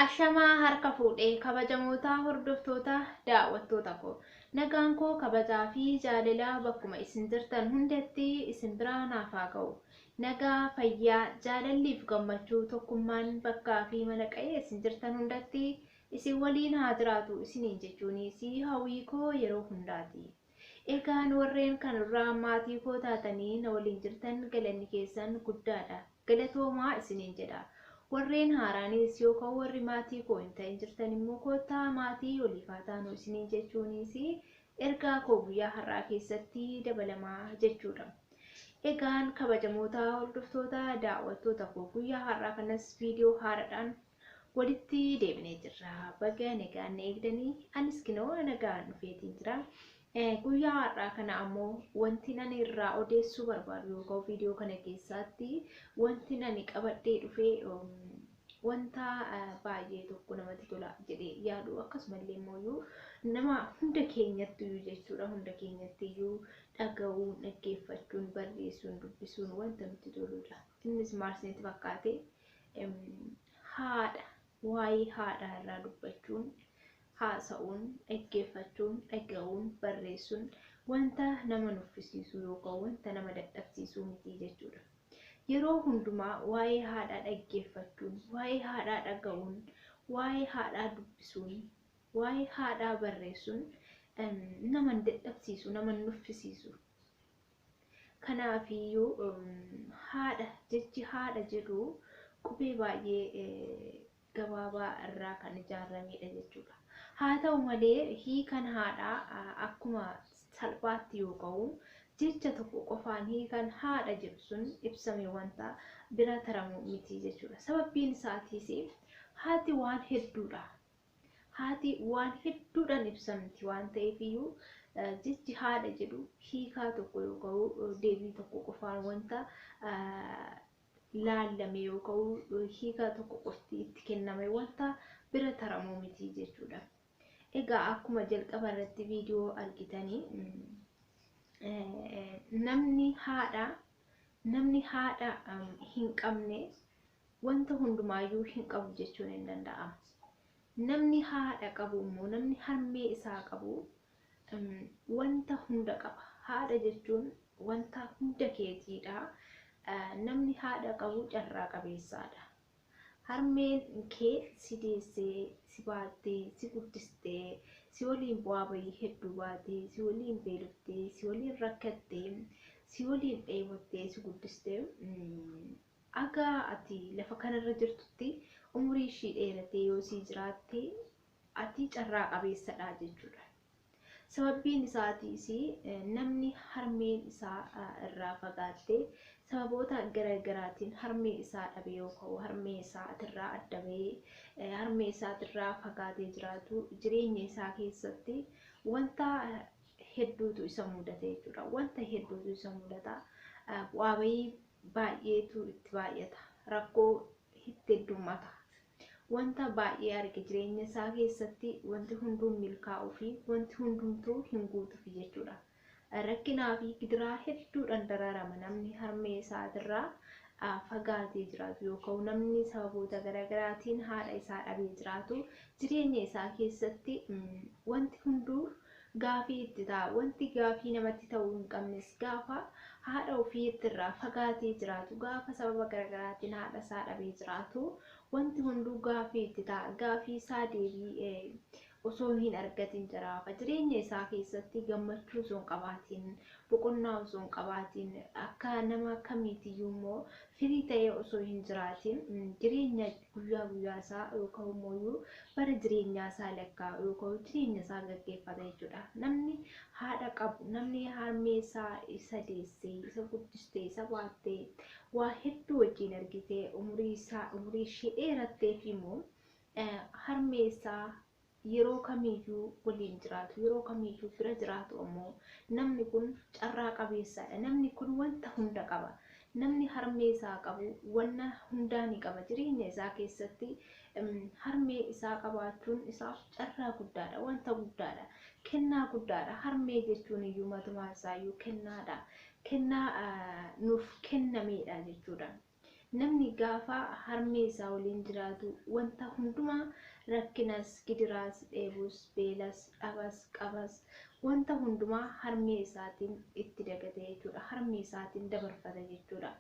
Ashamaa harka fuudhe kabajamootaa hordoftoota daawwattoota koo nagaan koo kabajaa fi jaalelaa bakkuma isin jirtan hundatti isin biraa naaf haa ga'u nagaa fayyaa jaalalliif gammachuu tokkummaan bakkaa fi mana qa'ee isin jirtan hundatti isin waliin haa jiraatu isiniin jechuunis hawwii koo yeroo hundaati. Egaan warreen kan irraa maatii koo taatanii na waliin jirtan galanni keessan guddaa dha. Galatoomaa isiniin jedha. Warreen haaraanis yookan warri maatii koo hin ta'in jirtan immoo koottaa maatii waliif haa taanu isiniin jechuunis ergaa koo guyyaa har'aa keessatti dabalama jechuu dha. Egaan kabajamoota hordoftoota daawwattoota koo guyyaa har'aa kanas viidiyoo haaradhaan Walitti deebinee jirra. Baga nagaan na eegdanii anis kinoo nagaan dhufeetiin jira. Guyyaa har'aa kana ammoo wanti ani irraa odeessuu barbaadu yookaan viidiyoo kana keessaatti wanti ani qabadhee dhufee wanta baay'ee tokko namatti tola jedhee yaadu akkasumallee immoo nama hunda keenyatti iyyuu jechuudha hunda keenyatti iyyuu dhaga'uun dhaggeeffachuun barreessuun dubbisuun wanta nutti toludha. Innis maal isinitti fakkaate? Em, Haadha, waa'ee haadhaa irraa dubbachuun, haasa'uun, dhaggeeffachuun, dhaga'uun, barreessuun wanta nama nuffisiisuu yookaan wanta nama dadhabsiisuu miti jechuudha. Yeroo hundumaa waa'ee haadhaa dhaggeeffachuun, waa'ee haadhaa dhaga'uun, waa'ee haadhaa dubbisuun, waa'ee haadhaa barreessuun em, nama hin dadhabsiisu, nama hin nuffisiisu. Kanaaf iyyuu haadha jechi haadha jedhu qubee baay'ee gabaabaa irraa kan ijaarameedha jechuudha. Haa ta'u malee hiikan haadhaa akkuma salphaatti yoo ka'u jecha tokko qofaan hiikan haadha jedhu sun ibsame wanta bira taramu miti jechuudha. Sababbiin isaatiis haati waan hedduudha Haati waan hedduudhaan ibsamti waan ta'eef iyyuu jechi haadha jedhu hiikaa tokko yookaan deebii tokko qofaan wanta laallame yookaan hiikaa tokko qofti itti kenname wanta bira taramuu miti jechuudha. Egaa akkuma jalqaba irratti viidiyoo argitanii namni haadha namni haadha hin qabne Wanta hundumaa iyyuu hin qabu jechuun in danda'ama. Namni haadha qabu immoo, namni harmee isaa qabu wanta hunda qaba. Haadha jechuun wanta hunda keetii dha. Namni haadha qabu carraa qabeessaa dha. Harmeen kee si deessee, si baattee, si guddistee, si waliin bu'aa bayii hedduu baatee, si waliin beeloftee, si waliin rakkattee, si waliin dheebottee si guddistee Haga ati lafa kana irra jirtutti umuriin ishii dheeratee yoo sii jiraatte ati carraa qabeessadha jechuudha. Sababbiin isaatiis namni harmeen isaa irraa fagaatte sababoota gara garaatiin harmee isaa dhabe yoo ka'u harmee isaatirraa adda bahee harmee isaatirraa fagaatee jiraatu jireenya isaa keessatti wanta hedduutu isa mudata jechuudha. Wanta hedduutu isa mudata. Bu'aa bahii baay'eetu itti baay'ata. Rakkoo itti heddummata. Wanta baay'ee arge jireenya isaa keessatti wanti hunduu milkaa'uu fi wanti hundumtuu hin guutufi jechuudha. Rakkinaa fi gidiraa hedduudhaan dararama namni harmee isaatirraa fagaatee jiraatu yookaan namni sababoota garaagaraatiin haadha isaa dhabee jiraatu jireenya isaa keessatti wanti hunduu Gaafii itti ta'a. Wanti gaafii namatti ta'uu hin qabnes gaafa haadha ofiitti irraa fagaatee jiraatu, gaafa sababa garagaraatiin haadha isaa dhabee jiraatu wanti hunduu gaafii itti ta'a. Gaafii isaa deebii osoo hin argatiin jiraafa. Jireenya isaa keessatti gammachuu osoo hin qabaatiin, boqonnaa osoo hin qabaatiin, akka nama kamiitiyyuu immoo firii ta'ee osoo hin jiraatiin jireenya guyyaa guyyaa isaa yookaan immoo bara jireenyaa isaa lakkaa'u yookaan jireenya isaa gaggeeffata jechuudha. Namni haadha qabu, namni harmee isaa isa deessee, isa guddistee, isa baattee, waa hedduu wajjin argitee, umurii isaa, umurii ishee dheeratteef immoo harmee isaa yeroo kamiyyuu waliin jiraatu, yeroo kamiyyuu bira jiraatu ammoo namni kun carraa qabeessaadha. Namni kun wanta hunda qaba. Namni harmee isaa qabu wanna hundaa ni qaba. Jireenya isaa keessatti harmee isaa qabaachuun isaaf carraa guddaadha, wanta guddaadha, kennaa guddaadha. Harmee jechuun iyyuu matumaan isaa iyyuu kennaadha. Kennaa nuuf kennameedha jechuudha. Namni gaafa harmee isaa waliin jiraatu wanta hundumaa rakkinas, gidiraas, dheebus, beelas, dhabas, qabas wanta hundumaa harmee isaatiin itti dagata jechuudha. Harmee isaatiin dabarfata jechuudha.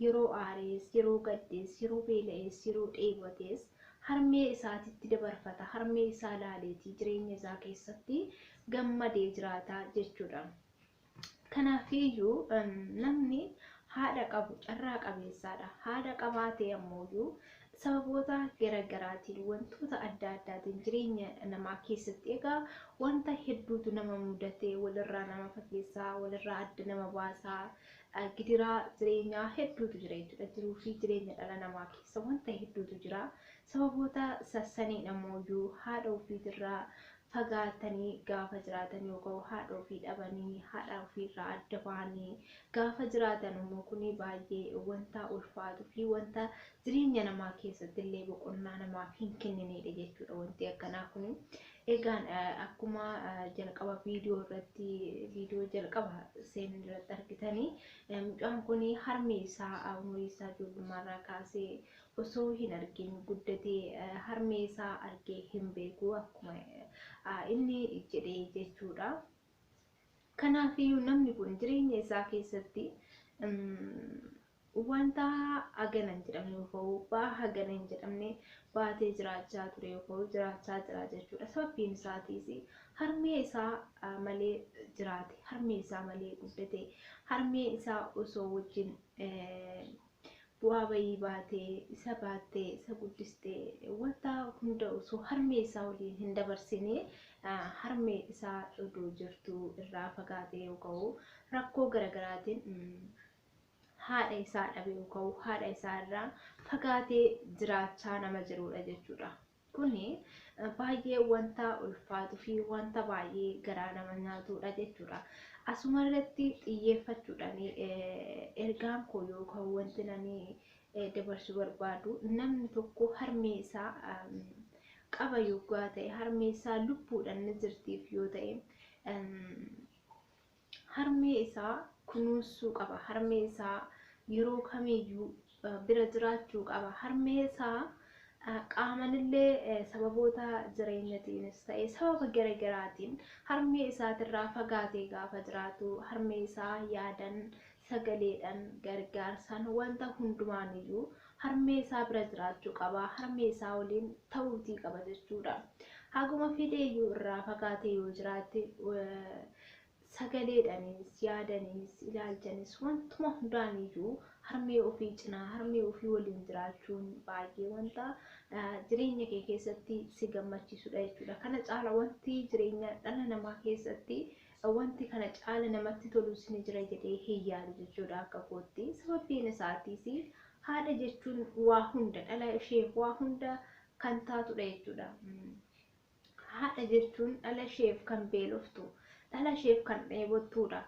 Yeroo aarees, yeroo gaddees, yeroo beela'ees, yeroo dheebotees harmee isaatitti dabarfata. Harmee isaa laaleeti jireenya isaa keessatti gammadee jiraata jechuudha. Kanaafiyyuu namni haadha qabu carraa qabeessaadha. Haadha qabaatee ammooyyuu sababoota garaagaraatiin wantoota adda addaatiin jireenya namaa keessatti egaa wanta hedduutu nama mudatee walirraa nama fageessaa walirraa adda nama baasaa gidiraa jireenyaa hedduutu jira jechuudha. Jiruu fi jireenya dhala namaa keessa wanta hedduutu jira. Sababoota sassaniin ammooyyuu haadha ofiitirraa fagaatanii gaafa jiraatan yookaan haadha ofii dhabanii haadha ofiirraa adda bahanii gaafa jiraatan immoo kun baay'ee wanta ulfaatuu fi wanta jireenya namaa keessatti illee boqonnaa namaaf hin kennineedha jechuudha wanti akkanaa kun. Egaan akkuma jalqaba viidiyoo irratti viidiyoo jalqaba seenuu irratti argitanii mucaan kun harmi isaa umurii isaa ijoollummaarraa kaasee osoo hin argin guddate harmee isaa argee hin beeku akkuma inni jedhe jechuudha. Kanaafiyyuu namni kun jireenya isaa keessatti wanta hagana hin jedhamne yookaan ba'aa hagana hin jedhamne baatee jiraachaa ture yookaan jiraachaa jira jechuudha. Sababbiin isaatiis harmee isaa malee jiraate, harmee isaa malee guddate, harmee isaa osoo wajjin bu'aa bayii baate, isa baatte, isa guddiste, wanta hunda osoo harmee isaa waliin hin dabarsine harmee isaa odoo jirtuu irraa fagaatee yoo ka'u rakkoo garagaraatiin haadha isaa dhabee yoo ka'u haadha isaa irraa fagaatee jiraachaa nama jiruudha jechuudha. Kuni baay'ee wanta ulfaatu fi wanta baay'ee garaa nama nyaatuudha jechuudha. Asuma irratti xiyyeeffachuudhaan ergaan koo yookaan wanti nani dabarsu barbaadu namni tokko harmee isaa qaba yoggaa ta'e harmee isaa lubbuudhaan ni jirtiif yoo ta'e Harmee isaa kunuunsuu qaba. Harmee isaa yeroo kamiiyyuu bira jiraachuu qaba. Harmee isaa qaaman illee sababoota jireenyatiinis ta'ee sababa gara garaatiin harmee isaatirraa fagaatee gaafa jiraatu harmee isaa yaadan sagaleedhan, gargaarsan, wanta hundumaanuyyuu harmee isaa bira jiraachuu qaba, harmee isaa waliin ta'uutii qaba jechuudha. Haguma fedheeyyuu irraa fagaatee yoo jiraate sagaleedhaniis, yaadaniis, ilaalchanis wantuma hundaaniyyuu harmee ofii cinaa, harmee ofii waliin jiraachuun baay'ee wanta jireenya kee keessatti si gammachiisudha jechuudha. Kana caala wanti jireenya dhala namaa keessatti wanti kana caala namatti tolus ni jira jedhee hin yaadu jechuudha akka kootti sababbiin isaatiis haadha jechuun waa hunda dhala isheef waa hunda kan taatudha jechuudha haadha jechuun dhala isheef kan beeloftu dhala isheef kan dheebottuudha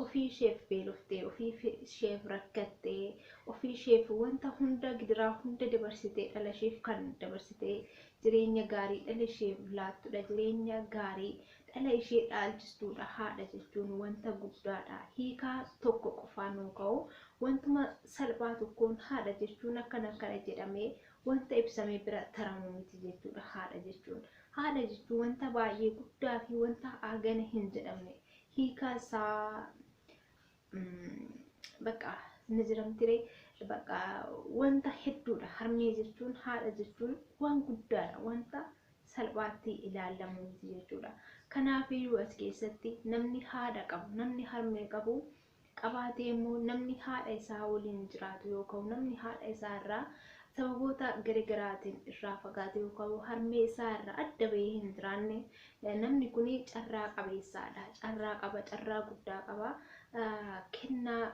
ofii isheef beeloftee ofii isheef rakkattee ofii isheef wanta hunda gidiraa hunda dabarsitee dhala isheef kan dabarsitee jireenya gaarii dhala isheef laattudha jireenya gaarii dhala ishee dhaalchistuudha. Haadha jechuun wanta guddaadha. Hiikaa tokko qofaan nuu ka'u. Wantuma salphaa tokkoon haadha jechuun akkana akkana jedhamee wanta ibsamee bira taramu miti jechuudha haadha jechuun. Haadha jechuun wanta baay'ee guddaa fi wanta hagana hin jedhamne. Hiikaa isaa Bakka ni jiramtiree bakka wanta hedduudha harmee jechuun haadha jechuun waan guddaadha wanta salphaatti ilaallamu miti jechuudha kanaaf iyyuu as keessatti namni haadha qabu namni harmee qabu qabaatee immoo namni haadha isaa waliin jiraatu yookaan namni haadha isaa irraa sababoota garaagaraatiin irraa fagaate yookaan harmee isaa irraa adda bahee hin jiraanne Namni kun carraa qabeessaadha. Carraa qaba, carraa guddaa qaba. Kennaa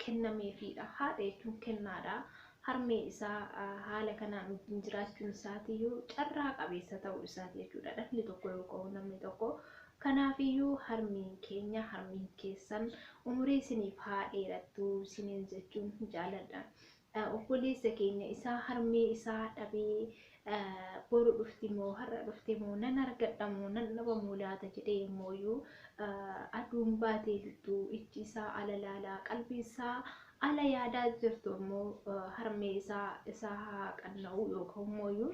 kennameefiidha. Haadha jechuun kennaadha. Harmee isaa haala kanaan wajjin jiraachuun isaatiyyuu carraa qabeessa ta'uu isaati jechuudha. Dhalli tokko yookaan namni tokko kanaafiyyuu harmeen keenya harmeen keessan umurii isiniif haa dheerattu isiniin jechuun jaaladha. obboleessa keenya isaa harmee isaa dhabee boru dhufti moo har'a dhufte moo nan argadha moo nan dhaba moo laata jedhee yommooyyuu aduun baatee jirtu ijji isaa ala laalaa qalbii isaa ala yaadaa jirtu ammoo harmee isaa isaa haa qanna'u yookaan immooyyuu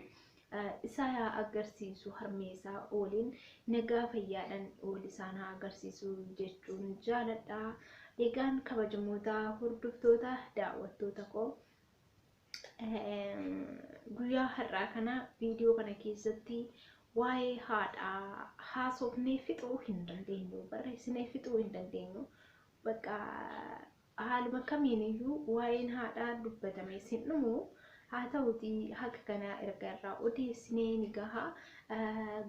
isaa yaa agarsiisu harmee isaa waliin nagaa fayyaadhan wal isaan haa agarsiisu jechuun jaaladha. Egaan kabajamoota hordoftoota daawwattoota koo guyyaa har'aa kana viidiyoo kana keessatti waa'ee haadhaa haasofnee fixuu hin dandeenyu barreessinee fixuu hin dandeenyu bakka Haaluma kamiin iyyuu waa'een haadhaa dubbatamee sin dhumu, haa ta'uutii haga kanaa erga irraa odeessinee ni gaha.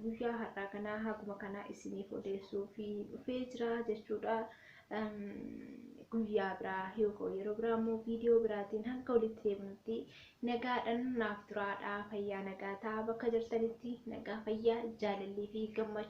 Guyyaa har'aa kana haguma kana isiniif odeessuuf dhufee jira jechuu dha. Guyyaa biraa yookaan yeroo biraa immoo viidiyoo biraatiin hanga walitti deebinutti nagaadhaan naaf turaa dha. Fayyaa nagaa ta'a bakka jirtanitti nagaa fayyaa jaalallii fi gammachuu.